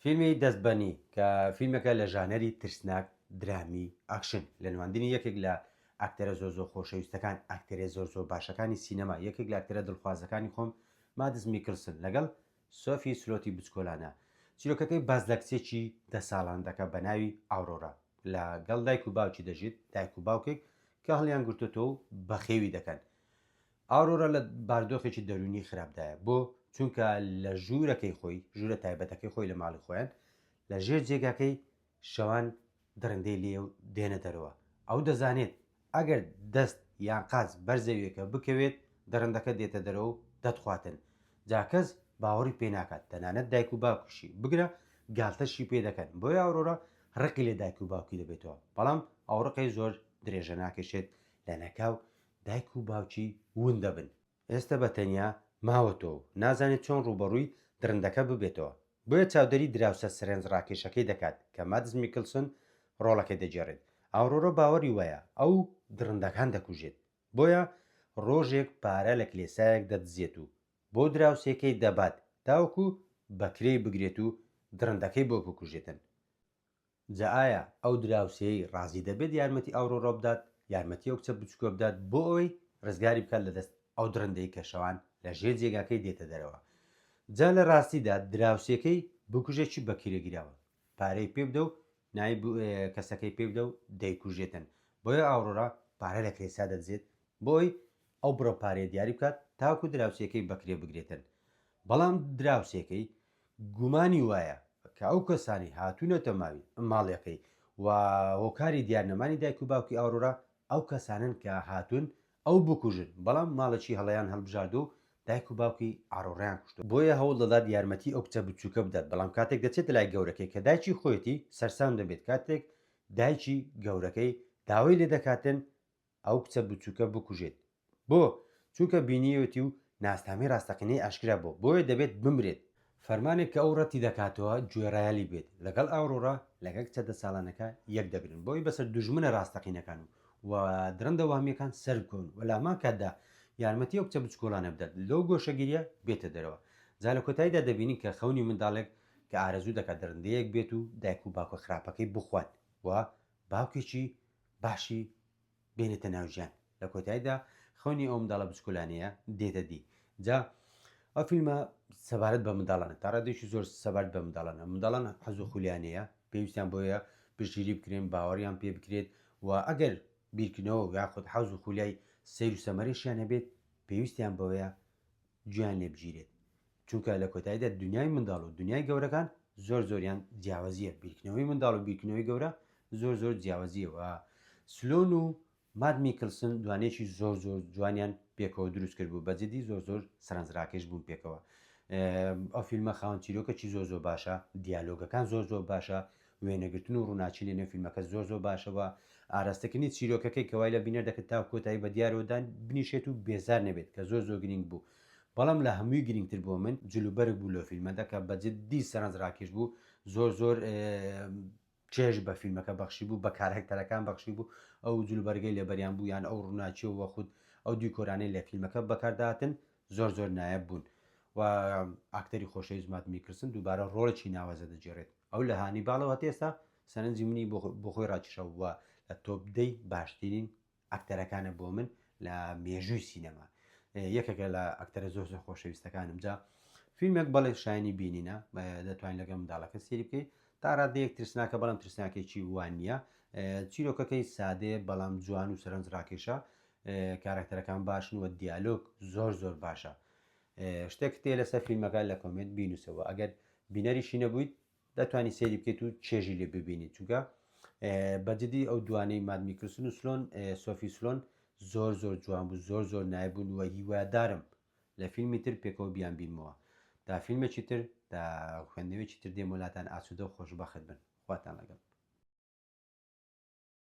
فیلمی دەست بەنی کە فیلمەکە لە ژانەری ترسناک درامی ئاکشن لە نواندنی یەکێک لە ئاکتەرە زۆر زۆر خۆشەویستەکان ئاکتەرێ زۆر زۆر باشەکانی سینەما یەکێک لە ئاکتەرە دڵخوازەکانی خۆم مادز میکلسن لەگەڵ سۆفی سلۆتی بچکۆلانە چیرۆکەکەی باز لە کچێکی دە ساڵان دەکە بە ناوی ئاورۆرا لە گەڵ دایک و باوکی دەژیت دایک و باوکێک کە هەڵیان گرتوتۆ و بەخێوی دەکەن ئارۆرا لە باردۆخێکی دەروونی خراپدایە، بۆ؟ چونکە لە ژوورەکەی خۆی، ژوورە تایبەتەکەی خۆی لە ماڵی خۆیان، لە ژێر جێگاکەی شەوان دڕندەی لێ دێنە دەرەوە، ئەو دەزانێت ئەگەر دەست یان قاچ بەر زەویەکە بکەوێت دڕندەکە دێتە دەرەوە و دەتخواتن، جا کەس باوەڕی پێ ناکات تەنانەت دایک و باوکیشی، بگرە گالتەشی پێ دەکەن، بۆیە ئارۆرا ڕقی لە دایک و باوکی دەبێتەوە، بەڵام ئەو ڕقەی زۆر درێژە ناکێشێت، لەناکاو دایک و باوکی ون دەبن. ئێستە بە تەنیا ماوەتەوە و نازانێت چۆن ڕووبەڕووی دڕندەکە ببێتەوە، بۆیە چاودێری دراوسێ سەرێنجڕاکێشەکەی دەکات کە مادس میکلسن ڕۆڵەکەی دەگێڕێت. ئاورۆرا باوەری وایە ئەو دڕندەکان دەکوژێت، بۆیە ڕۆژێک پارە لە کلێسایەک دەدزێت و بۆ دراوسێکەی دەبات تاوەکو بە کرێی بگرێت و دڕندەکەی بۆ بکوژێتن. جا ئایا ئەو دراوسێی ڕازی دەبێت یارمەتی ئاورۆرا بدات، یارمەتی ئەو کچە بچوکە بدات بۆ ئەوەی ڕزگاری بکات لە دەست ئەو دڕندەی کە شەوان لە ژێر جێگاکەی دێتە دەرەوە؟ جا لە ڕاستیدا دراوسێکەی بکوژێ چی بە کرێ گیراوە پارەی پێ بدە و نای کەسەکەی پێ بدە و دەیکوژێتن بۆیە ئاورۆرا پارە لە کرێسا دەدزێت بۆ ئەوی ئەو بڕە پارەیە دیاری بکات تاکو دراوسێکەی بەکرێ بگرێتن بەڵام دراوسێکەی گومانی وایە کە ئەو کەسانەی هاتوونەتە ماوی ماڵیەکەی و هۆکاری دیار نەمانی دایک و باوکی ئاورۆرا ئەو کەسانەن کە هاتوون ئەو بکوژن، بەڵام ماڵێکی هەڵەیان هەڵبژاردووە و دایک و باوکی ئارۆرایان کوشتووە، بۆیە هەوڵ دەدات یارمەتی ئەو کچە بچووکە بدات، بەڵام کاتێک دەچێتە لای گەورەکەی کە دایکی خۆیەتی سەرسام دەبێت کاتێک دایکی گەورەکەی داوای لێدەکاتن ئەو کچە بچووکە بکوژێت. بۆ؟ چونکە بینیوێتی و ناسنامەی ڕاستەقینەی ئاشکرا بووە، بۆیە دەبێت بمرێت. فەرمانێک کە ئەو ڕەتی دەکاتەوە گوێڕایەلی بێت. لەگەڵ ئاورۆرا، لەگەڵ کچە دە ساڵانەکە یەک دەگرن، بۆ ئەوی بەسەر دوژمنە ڕاستەقینەکان و دڕندە وەهمییەکان سەربکەون و لە هەمان کاتدا یارمەتی ئەو کچە بچکۆڵانە بدات لەو گۆشەگیرییە بێتە دەرەوە. جا لە کۆتاییدا دەبینین کە خەونی منداڵێک کە ئارەزوو دەکات دڕندەیەک بێت و دایک و باوکە خراپەکەی بخوات و باوکێکی باشی بێنێتە ناو ژیان لە کۆتاییدا خەونی ئەو منداڵە بچکۆلانەیە دێتە دی جا ئەو فیلمە سەبارەت بە منداڵانە تا ڕادێکی زۆر سەبارەت بە منداڵانە منداڵان حەز و خولیانەیە پێویستیان بۆیە پشگیری بکرێن باوەڕیان پێ بکرێت و ئەگەر بیرکردنەوە یاخود حەز و خولیای سیر و سەمەرێکیان هەبێت پێویستیان بەوەیە گوێیان لێ بگیرێت چونکە لە کۆتاییدا دنیای منداڵ و دنیای گەورەکان زۆر زۆریان جیاوازیە بیرکردنەوەی منداڵ و بیرکردنەوەی گەورە زۆر زۆر جیاوازیە و سلۆن و ماد میکلسن دوانێکی زۆر زۆر جوانیان پێکەوە دروست کرد بوو بەجدی زۆر زۆر سەرنجڕاکێش بوون پێکەوە ئەو فیلمە خاون چیرۆکەکی زۆر زۆر باشە دیالۆگەکان زۆر زۆر باشە وێنەگرتن و ڕووناکی لە نێو فیلمەکە زۆر زۆر باشە و ئاراستەکردنی چیرۆکەکەی کە وای لە بینەر دەکرد تاکو کۆتایی بە دیارەوە دان بنیشێت و بێزار نەبێت کە زۆر زۆر گرینگ بوو بەڵام لە هەمووی گرینگتر بۆ من جل و بەرگ بوو لە فیلمەدا کە بە جدی سەرنج ڕاکێش بوو زۆر زۆر چێژ بە فیلمەکە بەخشی بوو بە کارهکتەرەکان بەخشی بوو ئەو جلوبەرگەی لەبەریان بوو یان ئەو ڕووناچیەوە خود ئەو دیکۆرانەی لە فیلمەکە بەکارداتن زۆر زۆر نایەب بوون و ئاکتەری خۆشەویست مات میکرسن دووبارە ڕۆڵێکی ناوازە دەجێڕێت ئەو لە هانی باڵەوە تێستا سەرنجی منی بخۆی ڕاکیشەوە وە لە تۆپدەی باشترین ئەکتەرەکانە بۆ من لە مێژووی سینەما یەکێکە لە ئەکتەرە زۆر زۆر خۆشەویستەکانم جا فیلمێک بەڵێ شایانی بینینە دەتوانین لەگەڵ منداڵەکە سێری بکەیت تا ڕادەیەک ترسناکە بەڵام ترسناکێکی وان نییە چیرۆکەکەی سادەیە بەڵام جوان و سەرنج ڕاکێشە کارەکتەرەکان باشن و دیالۆگ زۆر زۆر باشە شتێک تێ لەسەر فیلمەکە لە کۆمنت بینوسەوە ئەگەر بینەریشی نەبوویت دەتوانانی سێری بکەیت و چێژی لێ ببینیت چونکە بەجددی ئەو دوانەی مادمیکرسن و سلۆن سۆفی سلۆن زۆر زۆر جوان بوو زۆر زۆر نایبوون وە هیوادارم لە فیلمی تر پێکەوە بیان بینمەوە تا فیلمێکی تر تا خوێندنەوەی چیتر دێمۆلاتان ئاسوودە و خۆشببخت بن خواتان لەگەڵ